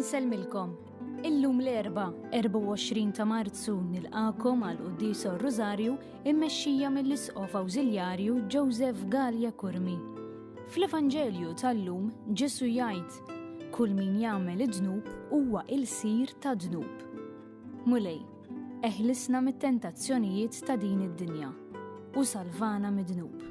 Insellmilkom. Illum l-erba, 24 ta' Marzu nilqakom għal Quddis Rosario immexxija mill-Isqof Awżiljarju Joseph Gallia Kurmi. Fl-Evanġelju tal-lum Ġesu jgħid, Kull min jagħmel id-dnub huwa ilsir ta' dnub. Mulej, eħlisna mit-tentazzjonijiet ta' din id-dinja u salvana mid-dnub.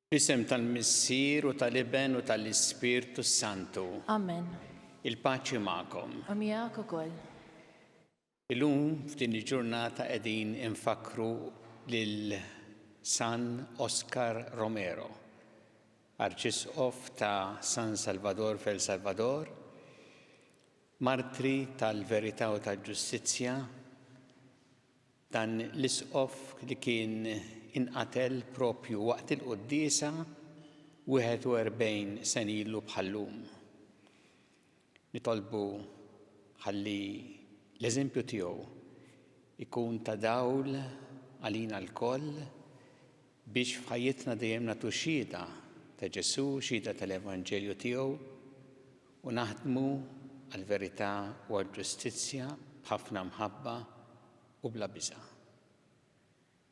Fl-isem tal-Missier u tal-Iben u tal-Ispirtu s-Santu. Amen. Il-paċi magħkom. U miegħek ukoll. Illum f'din il-ġurnata qegħdin infakkru lil San Oscar Romero, Arċisqof ta' San Salvador f'El Salvador, martri tal-verità u tal-ġustizzja, Dan l-Isqof li kien inqatel proprju waqt il-quddiesa 41 sena ilu bħal-lum. Nitolbu ħalli l-eżempju tiegħu jkun ta' dawl għalina lkoll Biex f'ħajjitna dejjem nagħtu xhieda ta' Ġesù, xhieda tal-evanġelju tiegħu u naħdmu għall-verità u għall-ġustizzja b'ħafna mħabba u bla biża'.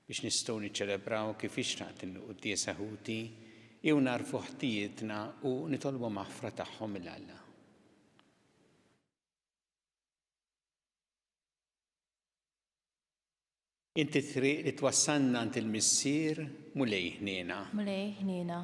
Biex nistgħu niċċelebraw kif jixraq din il-quddiesa ħuti hi u nagħrfu ħtijietna u nitolbu maħfra tagħhom minn Alla. Int it-triq li twassalna għand il-Missier, Mulej ħniena. Mulej ħniena.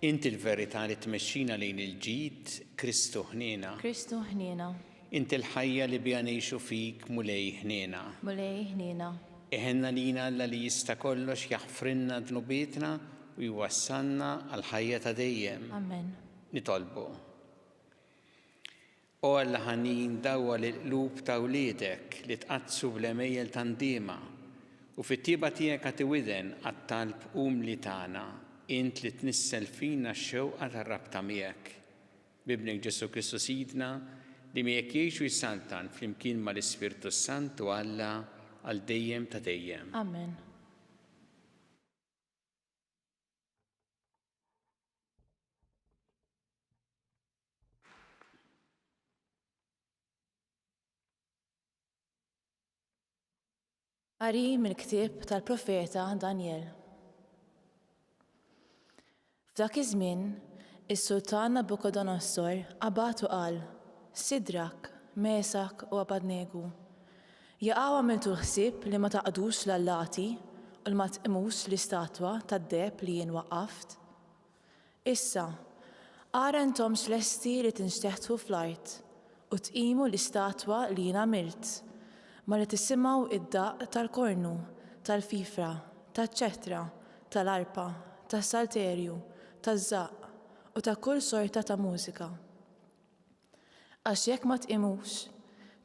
Int il-verità li tmexxina lejn il-ġid, Kristu ħniena. Kristu ħniena. Int il-ħajja li biha ngħixu fik, Mulej ħniena. Mulej ħniena. Iħenna lina Alla li jista' kollox jaħfrilna dnubietna u jwassalna għall-ħajja ta' dejjem. Amen. Nitolbu. O Alla ħanin dawwa l-qlub ta' wliedek li tqaddsu bl-għemejjel ta' ndiema, u fit-tjieba tiegħek agħti widen għat-talb umli tagħna, int li tnissel fina x-xewqa tar-rabta miegħek. B'Ibnek Ġesù Kristu Sidna, li miegħek jgħix u jsaltan flimkien mal-Ispirtu s-Sant u Alla għal dejjem ta' dejjem. Amen. Qari mill-ktieb tal-profeta Danjel. F'dak iż-żmien, is-Sultan Nabukodonossor qabad u qal, Sidrak, Mesak u Abadnegu, jaqaw għamiltu ħsieb li ma taqdux l-allati u li ma tqimux l-istatwa tad-deheb li jien waqqaft? Issa, ara intomx lesti li tinxteħtu fl-art u tqimu l-istatwa li jien għamilt, malli tisimgħu d-daqq tal-kornu, tal-fifra, taċ-ċetra, tal-arpa, tas-salterju, taż-żaqq u ta' kull sorta ta' mużika. Għax jekk ma tqimux,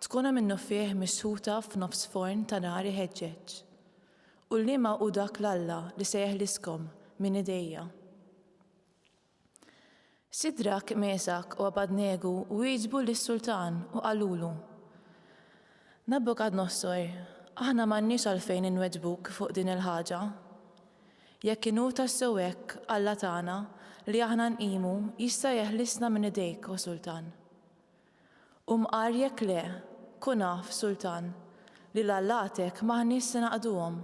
tkunu minnufih mixħuta f'nofs forn ta' nar iħeġġeġ. U liema hu dak l-Alla li se jeħliskom minn idejja? Sidrak, Mesak u Abadnegu wieġbu lis-sultan u qalulu, Nabukadnossor, aħna m'għandniex għalfejn inweġbuk fuq din il-ħaġa. Jekk inhu tassew hekk, Alla tagħna, li aħna nqimu, jista' jeħlisna minn idejk, O Sultan. U mqar jekk le, kun af, Sultan, li l-allatek m'aħniex se naqduhom,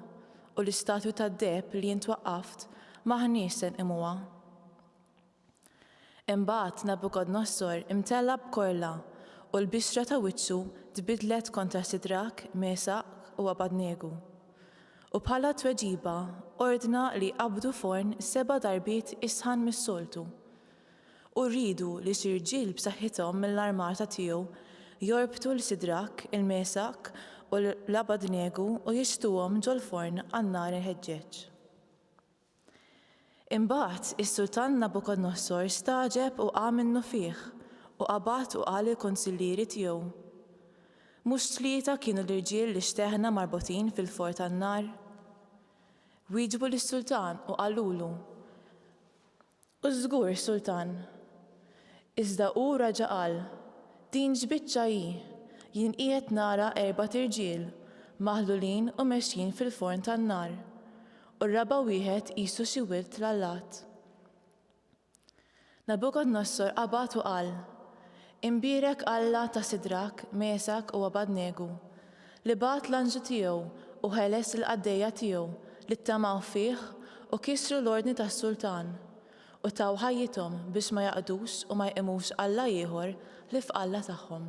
u l-istatwi tad-deheb li int waqqaft m'aħniex se nqimuha. Imbagħad Nabukodnossor imtella b'korla, u l-bixra ta' wiċċu tbiddlet kontra Sidrak, Mesaq, u Abadnegu. U bħala tweġiba ordna li jqabbdu forn seba' darbiet isħan mis-soltu. U riedu li xi rġiel b'saħħithom mill-armata tiegħu jorbtu 'l Sidrak, il-Mesaq, u 'l Abadnegu u jixħtuhom ġol-forn għan-nar iħeġġeġ. Imbagħad is-sultan Nabukodonosor stagħġeb u qam minnufih, u qabad u qal lill-kunsillieri tiegħu, Mhux tlieta kienu l-irġiel li xteħna marbutin fil-for tan-nar? Wieġbu lis-sultan u qalulu, U żgur, Sultan. Iżda hu raġa' qal, Din x'biċċa hi? Jien qiegħed nara erbat irġiel, maħlulin u mexjin fil-forn tan-nar, u r-raba' wieħed qisu xi wild tlallat. Nabukodnossor qabad u qal, Imbierek Alla ta' Sidrak, Mesak u Abad-Negu, li bagħat l-anġlu tiegħu u ħeles lill-qaddejja tiegħu li ttamaw fih u kisru l-ordni tas-sultan, u taw ħajjithom biex ma jaqdux u ma jqimux alla ieħor ħlief Alla tagħhom.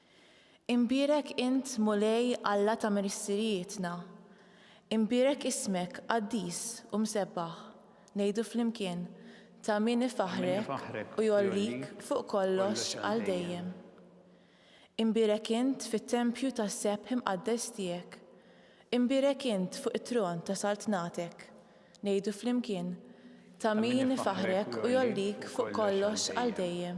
Imbierek int, Mulej, Alla ta' missirijietna. Imbierek ismek, qaddis u msebbaħ. Ngħidu flimkien, Ta' min ifaħħrek u jgħollik fuq kollox għal dejjem. Imbierek int fit-tempju tas-sebħ imqaddes tiegħek. Imbierek int fuq it-tron ta' saltnatek. Ngħidu flimkien, Ta' min ifaħħrek u jgħollik fuq kollox għal dejjem.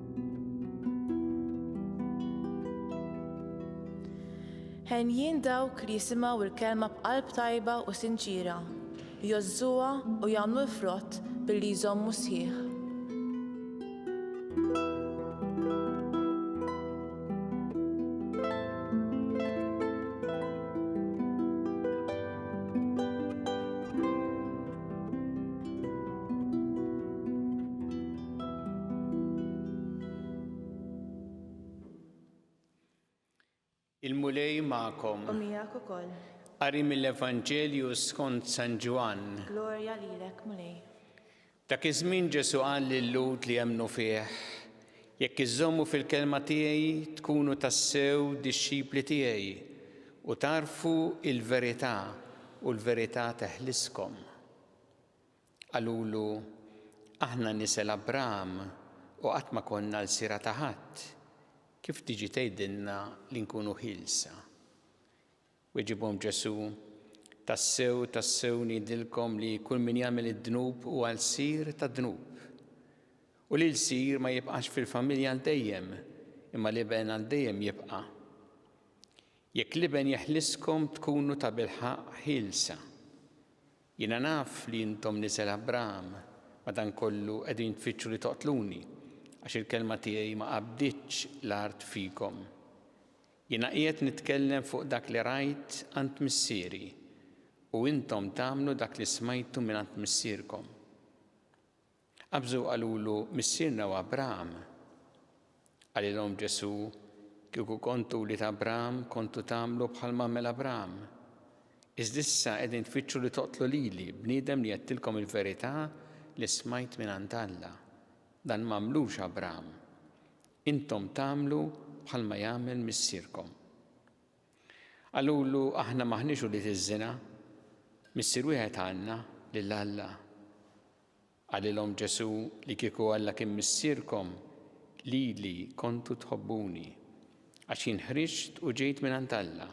Henjin dawk li jisimgħu l-kelma b'qalb tajba u sinċiera, jgħożżuha u jagħmlu l-frott billi jżommu sħiħ. Il-Mulej magħkom. U miegħek ukoll. Qari mill-Evanġelju skont San Ġwann. Glorja lilek, Mulej. Dak iż-żmien Ġesu qal lil-Lud li jemmnu fih, jekk iżommu fil-kelma tiegħi tkunu tassew dixxipli tiegħi u tarfu il-verità u l-verità teħliskom. Qalulu, Aħna nisel Abram u qatt ma konna lsiera ta' ħadd, kif tiġi tgħidilna li nkunu ħielsa? Weġibhom Ġesù, Tassew, tassew ngħidilkom li kull min jagħmel id-dnub huwa lsir tad-dnub. U l-ilsir ma jibqax fil-familja għal dejjem, imma l-iben għal dejjem jibqa'. Jekk l-iben jeħliskom tkunu tabilħaqq ħielsa. Jiena naf li intom nisel Abraham, madankollu qegħdin tfittxu li toqtluni, għax il-kelma tiegħi ma qabditx l-art fikom. Jiena qiegħed nitkellem fuq dak li rajt għand Missieri, u intom tagħmlu dak li smajtu mingħand missierkom. Qabżu u qalulu, Missierna hu Abram. Qalilhom Ġesù, Kieku kontu wlied Abram, kontu tagħmlu bħalma għamel Abram. Iżda issa qegħdin tfittxu li toqtlu lili, bniedem li għedtilkom il-verità li smajt mingħand Alla. Dan m'għamlux Abram. Intom tagħmlu bħalma jagħmel missierkom. Qalulu, Aħna m'aħniex ulied iż-żina. Missier wieħed għandna, lil Alla. Qalilhom Ġesù li kieku Alla kien Missierkom, lili kontu tħobbuni, għax jien ħriġt u ġejt mingħand Alla,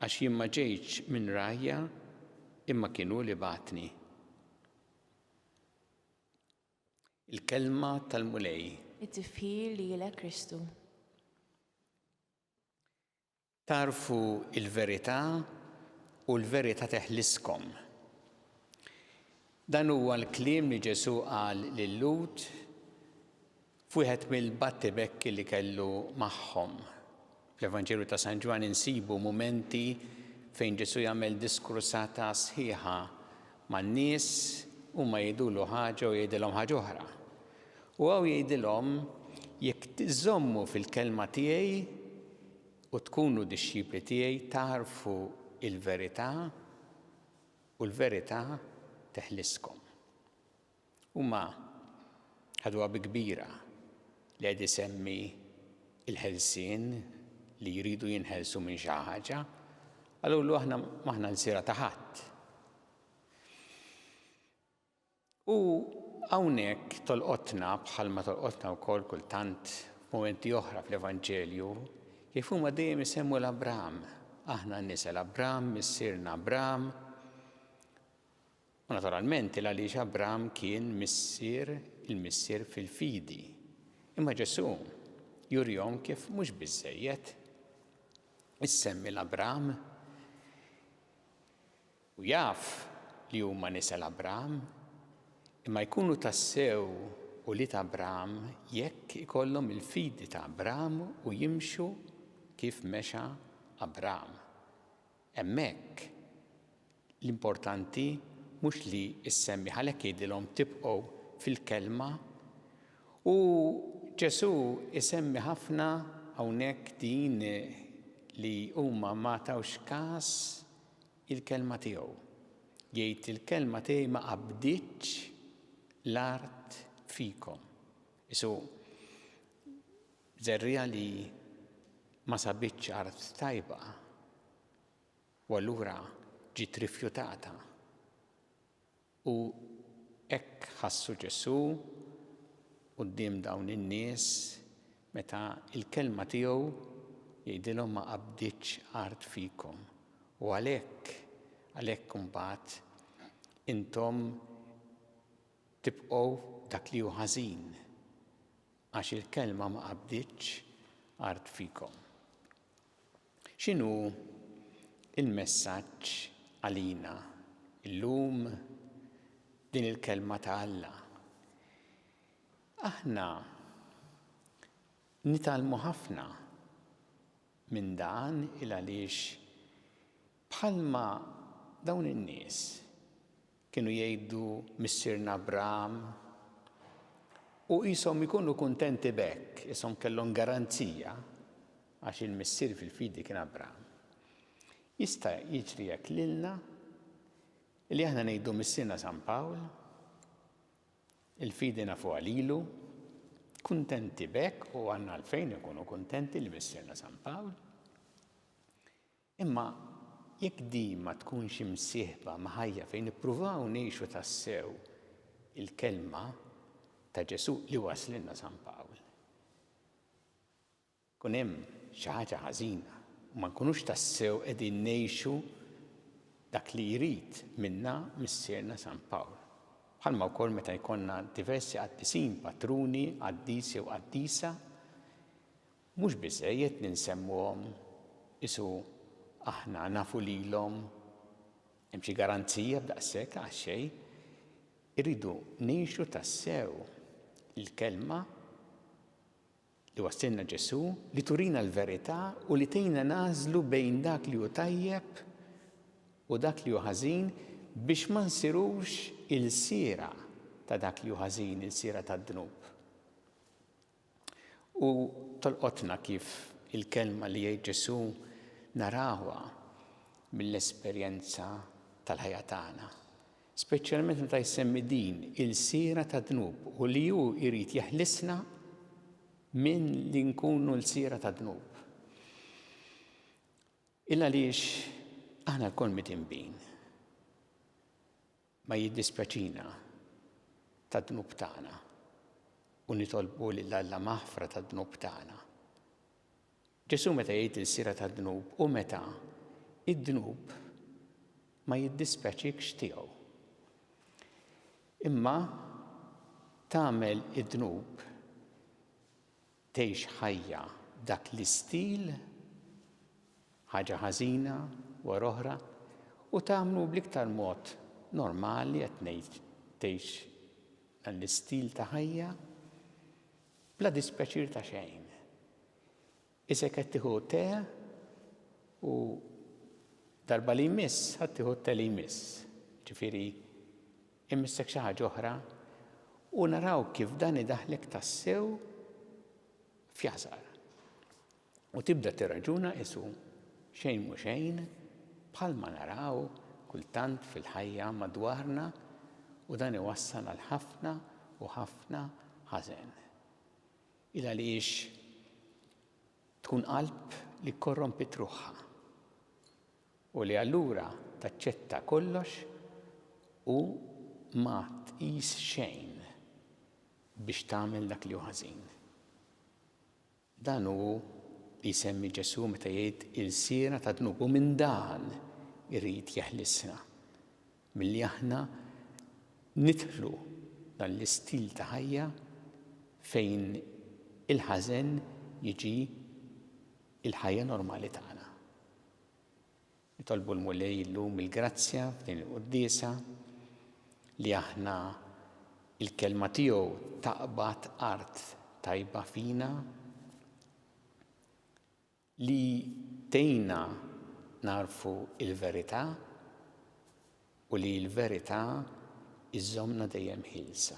għax jien ma ġejtx minn rajja, imma kien hu li bagħatni. Il-kelma tal-Mulej. It-tifħir lilek Kristu. Tagħrfu l-verità u l-verità teħliskom. Dan huwa l-kliem li Ġesù qal lil Lhud f'wieħed mill-battibekki li kellu magħhom. Fl-Evanġelju ta' San Ġwann insibu mumenti fejn Ġesù jagħmel diskursata sħiħa man-nies, huma jgħidulu ħaġa u jgħidilhom ħaġa oħra. U hawn jgħidilhom, Jekk tiżommu fil-kelma tiegħi, U tkunu dixxipli tiegħi tagħrfu l-verità u l-verità teħliskom. Huma ħaduha bi kbira li qed isemmi l-ħelsien li jridu jinħelsu minn xi ħaġa, qalulu aħna m'aħna lsiera ta' ħadd. U hawnhekk tolqotna, bħalma tolqotna wkoll kultant f'mumenti oħra fl-Evanġelju, kif huma dejjem isemmu 'l Abraham. Aħna nisel Abraham, missierna Abraham. U naturalment il għaliex Abraham kien missier il-missier fil-fidi. Imma Ġesù jurihom kif mhux biżżejjed issemmi 'l Abraham. U jaf li huma nisel Abraham, imma jkunu tassew ulied Abraham jekk ikollhom il-fidi ta' Abraham u jimxu kif mexa Abraham. Hemmhekk l-importanti mhux li ssemmi għalhekk jgħidilhom tibqgħu fil-kelma u Ġesù jsemmi ħafna hawnhekk din li huma ma tawx każ il-kelma tiegħu. Jgħid li l-kelma tiegħi ma qabditx l-art fikom. Isu żerriegħa li ma sabitx art tajba u allura ġiet rifjutata. U hekk ħassu Ġesù quddiem dawn in-nies meta l-kelma tiegħu jgħidilhom ma qabditx art fikom. U għalhekk, għalhekk imbagħad intom tibqgħu f'dak li hu ħażin, għax il-kelma ma qabditx art fikom. X'inhu l-messaġġ għalina llum din il-Kelma ta' Alla? Aħna nitgħallmu ħafna minn dan il għaliex bħalma dawn in-nies Kienu jgħidu missierna Abraham. U qishom ikunu kuntenti b'hekk, qishom kellhom garanzija għax il-missier fil-fidi kien Abraham. Jista' jiġri hekk lilna li aħna ngħidu missierna San Pawl, il-fidi nafu għalilu, kuntenti b'hekk u għandna għalfejn ikunu kuntenti li missierna San Pawl. Imma jekk din ma tkunx imsieħba ma' ħajja fejn nippruvaw ngħixu tassew il-Kelma ta' Ġesù li wasslilna San Pawl, ikun hemm xi ħaġa ħażina u ma nkunux tassew qegħdin ngħixu dak li jrid minna Missierna San Pawl. Bħalma wkoll meta jkollna diversi qaddisin, patruni, qaddis jew qaddisa, Mhux biżżejjed li nsemmuhom, qisu aħna nafu lilhom. Hemm xi garanzija b'daqshekk għax xejn. Irridu ngħixu tassew il-kelma li wassilna Ġesù li turina l-verità u li tgħinna nagħżlu bejn dak li hu tajjeb u dak li hu ħażin biex ma nsirux ilsiera ta' dak li hu ħażin, ilsiera tad-dnub. U tolqotna kif il-kelma li jgħid Ġesù narawha mill-esperjenza tal-ħajja tagħna, speċjalment meta jsemmi din ilsiera tad-dnub u li hu jrid jeħlisna minn li nkunu lsiera tad-dnub. Il-għaliex aħna lkoll mitinbin. Ma jiddispjaċina tad-dnub tagħna u nitolbu lil Alla maħfra tad-dnub tagħna. Ġesù meta jgħid il-sira tad-dnub u meta id-dnub ma jiddispjaċikx tiegħu. Imma tagħmel id-dnub Tgħix ħajja b'dak l-istil, ħaġa ħażina wara oħra, u tagħmlu bl-iktar mod normali qed ngħid tgħix dan l-istil ta' ħajja bla dispjaċir ta' xejn. Isek qed tieħu te u darba li jmiss ħadd tieħu te li jmiss. Ġifieri Imissek xi ħaġa oħra u naraw kif dan idaħħlek tassew f'jasar. U tibda tirraġuna qisu xejn mhu xejn bħalma naraw kultant fil-ħajja madwarna u dan iwassal għal ħafna u ħafna ħażen. Il għaliex tkun qalb li korrompit ruħha. u li allura taċċetta kollox u ma tqis xejn biex tagħmel dak li hu ħażin. Dan hu li jsemmi Ġesù meta jgħid ilsiera tad-dnub u minn dan irid jeħlisna milli aħna nidħlu dan l-istil ta' ħajja fejn il-ħażen jiġi l-ħajja normali tagħna. Nitolbu l-Mulej illum il-grazzja f'din il-Quddiesa li aħna il-Kelma tiegħu taqbad art tajba fina li tgħinna nagħrfu l-verità u li l-verità iżżommna dejjem ħielsa.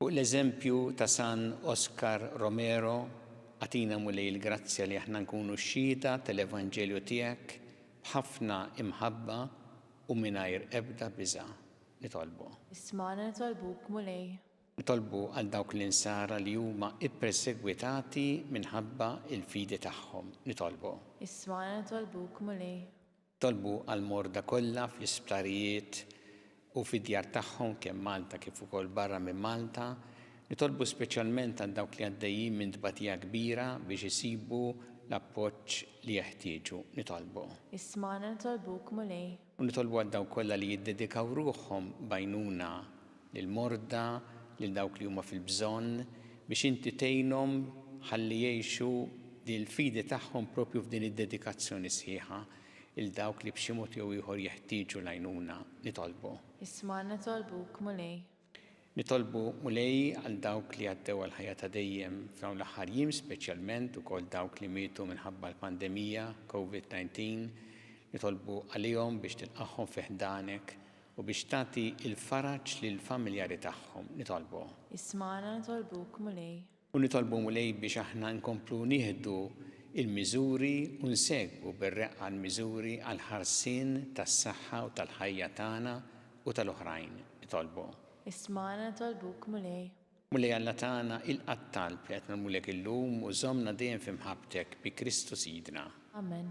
Fuq l-eżempju ta' San Oscar Romero, agħtina Mulej il-grazzja li aħna nkunu xhieda tal-Evanġelju tiegħek b'ħafna imħabba u mingħajr ebda biża'. Nitolbu. Ismagħna nitolbuk, Mulej. Nitolbu għal dawk l-insara li huma ppersegwitati minħabba l-fidi tagħhom. Nitolbu. Ismagħna nitolbuk, Mulej. Tolbu għall-morda kollha fl-isptarijiet u fid-djar tagħhom kemm Malta kif ukoll barra minn Malta. Nitolbu speċjalment għal dawk li għaddejjin minn tbatija kbira biex isibu l-appoġġ li jeħtieġu. Nitolbu. Ismagħna nitolbuk, Mulej. U nitolbu għal dawk kollha li jiddedikaw ruħhom b'għajnuna. lill-morda, lil dawk li huma fil-bżonn, biex Inti tgħinhom ħalli jgħixu din il-fidi tagħhom proprju f'din id-dedikazzjoni sħiħa 'l dawk li b'xi mod jew ieħor jeħtieġu l-għajnuna. Nitolbu. Isma' nitolbuk, Mulej. Nitolbu, Mulej, għal dawk li għaddew għall-ħajja ta' dejjem f'dawn l-aħħar jiem, speċjalment ukoll dawk li mietu minħabba l-pandemija, Covid-19. Nitolbu għalihom biex tilqagħhom fi ħdanek U biex tagħti l-faraġ lill-familjari tagħhom. Nitolbu. Ismagħna nitolbuk, Mulej. U nitolbu, Mulej, biex aħna nkomplu nieħdu l-miżuri u nsegwu bir-reqqa l-miżuri għall-ħarsien tas-saħħa u tal-ħajja tagħna u tal-oħrajn. Nitolbu. Ismagħna nitolbuk, Mulej. Mulej Alla tagħna, ilqa' t-talb li qed nagħmlulek illum u żommna dejjem f'imħabbtek bi Kristu Sidna. Amen.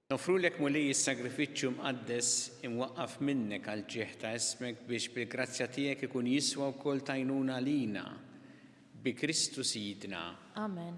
Noffrulek Mulej is-sagrifiċċju mqaddes imwaqqaf minnek għall-ġieħ ta' ismek biex bil-grazzja tiegħek ikun jiswa wkoll t'għajnuna għalina. Bi Kristu Sidna. Amen.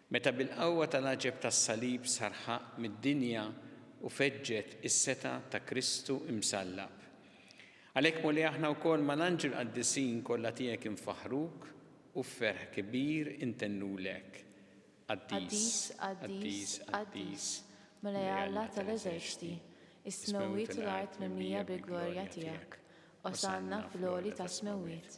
Meta bil-qawwa tal-għaġeb tas-salib sar ħaqq mid-dinja u feġġet is-setgħa ta' Kristu imsallab. Għalhekk Mulej aħna wkoll mal-anġli l-qaddisin kollha tiegħek infaħħruk u f'ferħ kbir intennulek, Qaddis, Qaddis, Qaddis, Mulej Alla tal-eżerċti, is-smewwiet u l-art mimlija bil-glorja tiegħek, Osanna fl-għoli tas-smewwiet,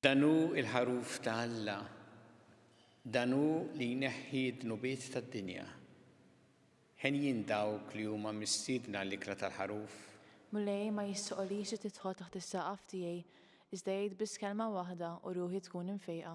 Dan hu l-Ħaruf ta' Alla. Dan hu li jneħħi d-dnubiet tad-dinja. Henjin dawk li huma mistiedna għall-ikla tal-Ħaruf. Mulej ma jistħoqlix li tidħol taħt is-saqaf tiegħi, iżda għid biss kelma waħda u ruħi tkun imfejqa.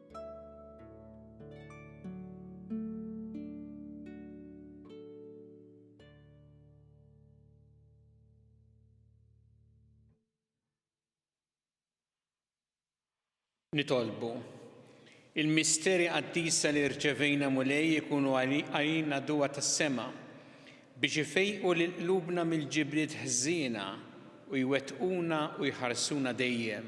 nitolbu. Il-misteri qaddisa li rċevejna mulej ikunu għalina duwa tas-sema biex ifejqu lil qlubna mill-ġibriet ħżiena u jwettquna u jħarsuna dejjem.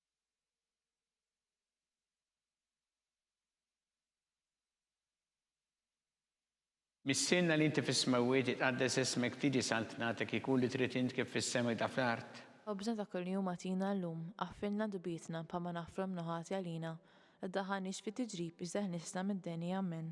Missierna li inti fis-smewwiet, jitqaddes ismek, tiġi saltnatek, ikun li trid int kif fis-sema kda fl-art. Ħobżna ta' kuljum agħtina llum, aħfirlna dbietna bħalma naħfru mnuħati għalina, iddaħħalniex fit-tiġrib iżda ħlisna mid-deni. Amen.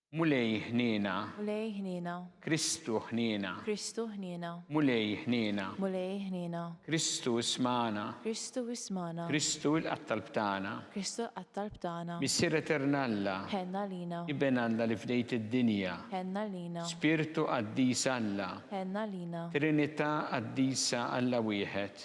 Mulej ħniena. Mulej ħniena. Kristu ħniena. Kristu ħniena. Mulej ħniena. Mulej ħniena. Kristu ismagħna. Kristu ismagħna. Kristu il-Qatt Talb tagħna. Kristu l-Qatt Talb tagħna. Missier Etern Alla. Ħenn għalina. Iben Alla li fdejt id-dinja. Ħenn għalina. Spirtu Qaddis Alla. Ħenn għalina. Trinità Qaddisa Alla Wieħed.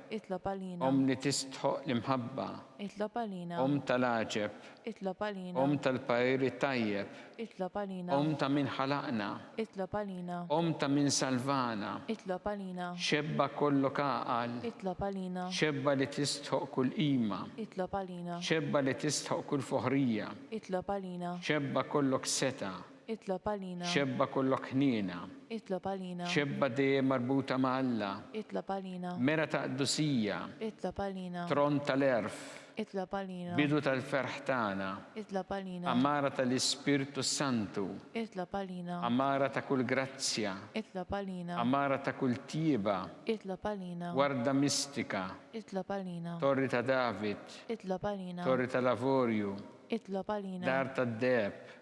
Itlob għalina. Omm li tistħoq l-imħabba. Itlob għalina. Omm tal-għaġeb. Itlob għalina. Omm tal-parir it-tajjeb. Itlob għalina. Omm ta' min ħalaqna. Itlob għalina. Omm ta' min salvana. Itlob għalina. Xebba kollok għaqal. Itlob għalina. Xebba li tistħoq kull qima. Itlob għalina. Xebba li tistħoq kull foħrija. Itlob għalina. Xebba kollok setgħa. Itlob għalina. Xebba kollok ħniena. Itlob għalina. Xebba dejjem marbuta ma' Alla. Itlob għalina. Mera ta' qdusija. Itlob għalina. Tronn tal-għerf. Itlob għalina. Bidu tal-ferħ tagħna. Itlob għalina. Għamara tal-Ispirtu s-Santu. Itlob għalina. Għamara ta' kull grazzja. Itlob għalina. Għamara ta' kull tjieba. Itlob għalina. Warda mistika. Itlob għalina. Torri ta' David. Itlob għalina. Torri tal-avorju. Itlob għalina. Dar tad-deheb.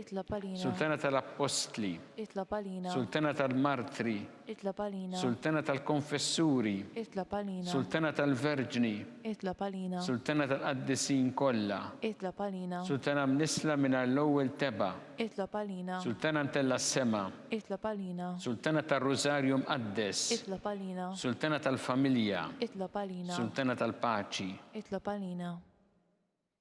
Itlob għalina. Sultana tal-Appostli. Itlob għalina. Sultana tal-Martri. Itlob għalina. Sultana tal-Konfessuri. Itlob għalina. Sultana tal-Verġni. Itlob għalina. Sultana tal-Qaddisin kollha. Itlob għalina. Sultana mnissla mingħajr l-ewwel tebgħa. Itlob għalina. Sultana mtellgħa s-sema. Itlob għalina. Sultana tar-Rużarju Mqaddes. Itlob għalina. Sultana tal-Familja. Itlob għalina. Sultana tal-Paċi. Itlob għalina.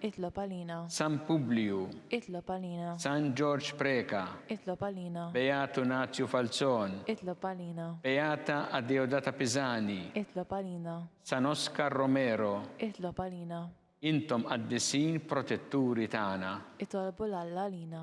Itlob għalina. San Publiju. Itlob għalina. San Ġorġ Preca. Itlob għalina. Beatu Nazju Falzon. Itlob għalina. Beata Adeodata Pisani. Itlob għalina. San Oscar Romero. Itlob għalina. Intom qaddisin protetturi tagħna. Itolbu 'l Alla għalina.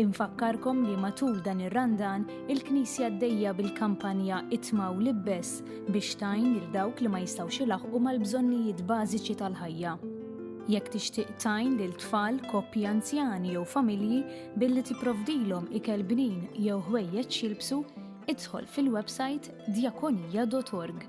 Infakkarkom li matul dan ir-Randan, il-Knisja għaddejja bil-kampanja Itma u Libbes biex tajn lil dawk li ma jistgħux ilaħqu mal-bżonnijiet bażiċi tal-ħajja. Jekk tixtieq tajn lil tfal, koppji anzjani jew familji billi tipprovdilhom ikel bnin jew ħwejjeġ jilbsu, idħol fil-websajt djakonija.org.